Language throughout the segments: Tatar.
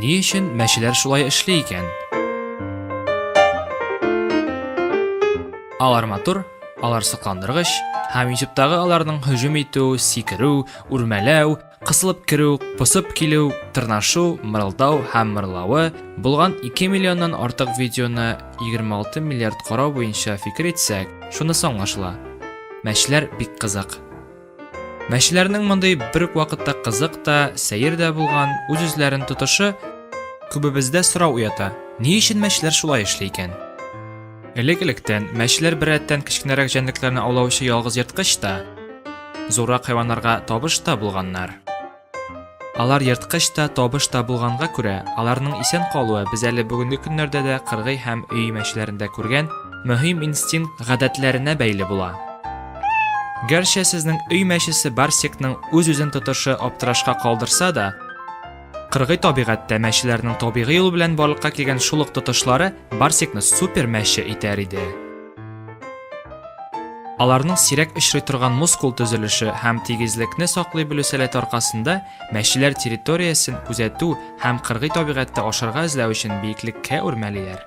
Ни өчен мәчеләр шулай эшли икән? Алар матур, алар сокландыргыч, һәм ютубтагы аларның һөҗүм итү, сикерү, үрмәләү, кысылып керү, посып килү, тырнашу, мырылдау һәм мырлавы булган 2 миллионнан артык видеоны 26 миллиард карау буенча фикер итсәк, шунысы аңлашыла. Мәчләр бик кызык. Мәчеләрнең мондый бер үк вакытта кызык та, сәер дә булган үз-үзләрен тотышы күбебездә сорау уята. Ни өчен мәчеләр шулай эшли икән? Элек-электән мәчеләр беррәттән кечкенәрәк җәнлекләрне аулаучы ялгыз ерткыч та, зуррак хайваннарга табыш та булганнар. Алар ерткыч та, табыш та булганга күрә, аларның исән калуы без әле бүгенге көннәрдә дә кыргый һәм өй мәчләрендә күргән мөһим инстинкт гадәтләренә бәйле була. Гәрчә сезнең өй мәчесе Барсикның үз-үзен тотышы аптырашка калдырса да, кыргый табигатьтә мәчеләрнең табигый юл белән барлыкка килгән шул ук тотышлары Барсикны супер мәче итәр иде. Аларның сирәк очрый торган мускул төзелеше һәм тигезлекне саклый белү сәләте аркасында мәчеләр территориясен күзәтү һәм кыргый табигатьтә ашарга эзләү өчен биеклеккә үрмәлиләр.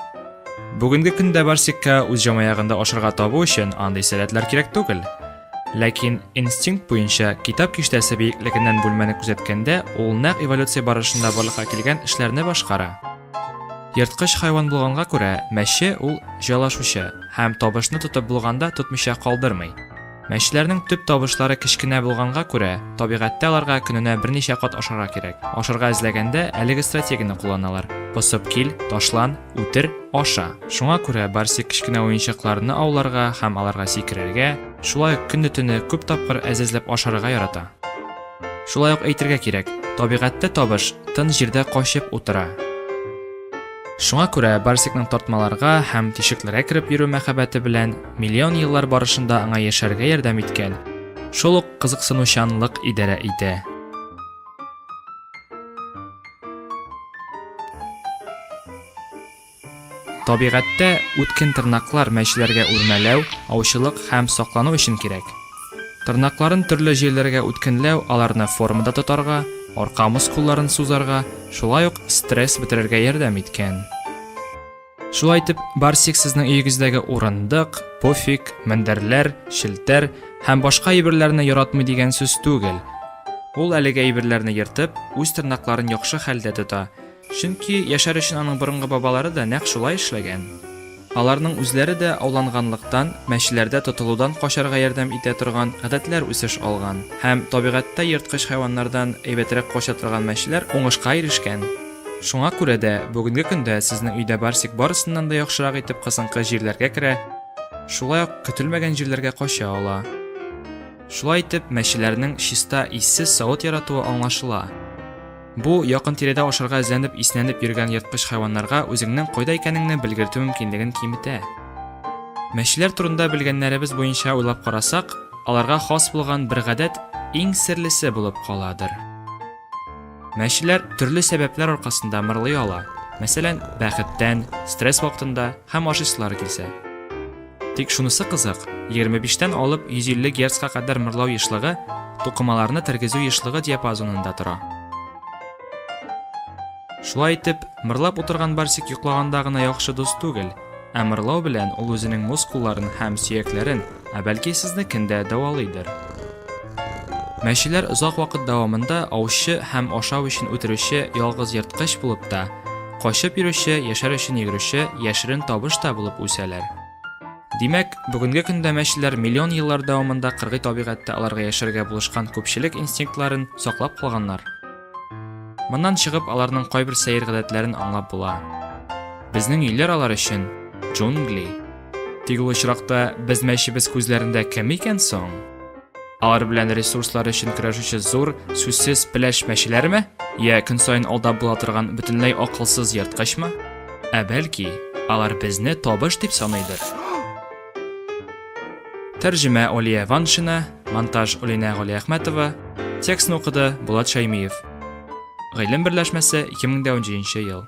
Бүгенге көндә барсикка үз җамаягында ашарга табу өчен андый сәләтләр кирәк түгел. Ләкин инстинкт буенча китап киштәсе биеклекеннән бүлмәне күзәткәндә ул нәкъ эволюция барышында барлыкка килгән эшләрне башкара. Ерткыч хайван булганга күрә, мәче ул җайлашучы һәм табышны тотып булганда тотмыйча калдырмый. Мәчләрнең төп табышлары кечкенә булганга күрә, табигатьтә аларга көненә берничә кат ашарга кирәк. Ашарга эзләгәндә әлеге стратегияне кулланалар, посып кил, ташлан, үтер, аша. Шуңа күрә Барсик кечкенә уенчыкларны ауларга һәм аларга сикерергә, шулай ук көнне-төне күп тапкыр әзәзләп ашарга ярата. Шулай ук әйтергә кирәк, табигатьтә табыш тын җирдә качып утыра. Шуңа күрә Барсикның тартмаларга һәм тишекләргә кереп йөрү мәхәббәте белән миллион еллар барышында аңа яшәргә ярдәм иткән, шул ук кызыксынучанлык идарә итә. Табигатьтә үткен тырнаклар мәчеләргә үрмәләү, аучылык һәм саклану өчен кирәк. Тырнакларын төрле җирләргә үткенләү аларны формада тотарга, арка мускулларын сузарга, шулай ук стресс бетерергә ярдәм иткән. Шулай итеп, Барсик сезнең өегездәге урындык, пуфик, мендәрләр, челтәр һәм башка әйберләрне яратмый дигән сүз түгел. Ул әлеге әйберләрне ертып, үз тырнакларын яхшы хәлдә тота, Чөнки яшәр өчен аның борынгы бабалары да нәкъ шулай эшләгән. Аларның үзләре дә ауланганлыктан, мәчеләрдә тотылудан качарга ярдәм итә торган гадәтләр үсеш алган һәм табигатьтә ерткыч хайваннардан әйбәтрәк кача торган мәчеләр уңышка ирешкән. Шуңа күрә дә бүгенге көндә сезнең өйдә Барсик барысыннан да яхшырак итеп кысынкы җирләргә керә, шулай ук көтелмәгән җирләргә кача ала. Шулай итеп, мәчеләрнең чиста, иссез савыт яратуы аңлашыла. Бу якын тирәдә ашарга эзләнеп иснәнеп йөргән ерткыч хайваннарга үзеңнең кайда икәнеңне белгертү мөмкинлеген киметә. Мәчеләр турында белгәннәребез буенча уйлап карасак, аларга хас булган бер гадәт иң серлесе булып каладыр. Мәчеләр төрле сәбәпләр аркасында мырлый ала. Мәсәлән, бәхеттән, стресс вакытында һәм ашыйсылары килсә. Тик шунысы кызык, 25 тән алып 150 герцка кадәр мырлау ешлыгы тукымаларны тергезү ешлыгы диапазонында тора. Шулай итеп, мырлап утырган Барсик йоклаганда гына яхшы дус түгел, ә мырлау белән ул үзенең мускулларын һәм сөякләрен, ә бәлки сезнекен дә дәвалыйдыр. Мәчеләр озак вакыт дәвамында аучы һәм ашау өчен үтерүче ялгыз ерткыч булып та, Качып йөрүче, яшәр өчен йөгерүче яшерен табыш та булып үсәләр. Димәк, бүгенге көндә мәчеләр миллион еллар дәвамында кыргый табигатьтә аларга яшәргә булышкан күпчелек инстинктларын саклап калганнар. Моннан чыгып, аларның кайбер сәер гадәтләрен аңлап була. Безнең өйләр алар өчен джунгли. Тик ул очракта без мәчебез күзләрендә кем икән соң? Алар белән ресурслар өчен көрәшүче зур, сүзсез пеләш мәчеләрме? Йә көн саен алда була торган бөтенләй акылсыз ерткычмы? Ә бәлки, алар безне табыш дип саныйдыр? Тәрҗемә Олия Ваншина, монтаж Олина Галиәхмәтова, текстны укыды Булат Шаймиев. Гыйлем берләшмәсе 2017 ел.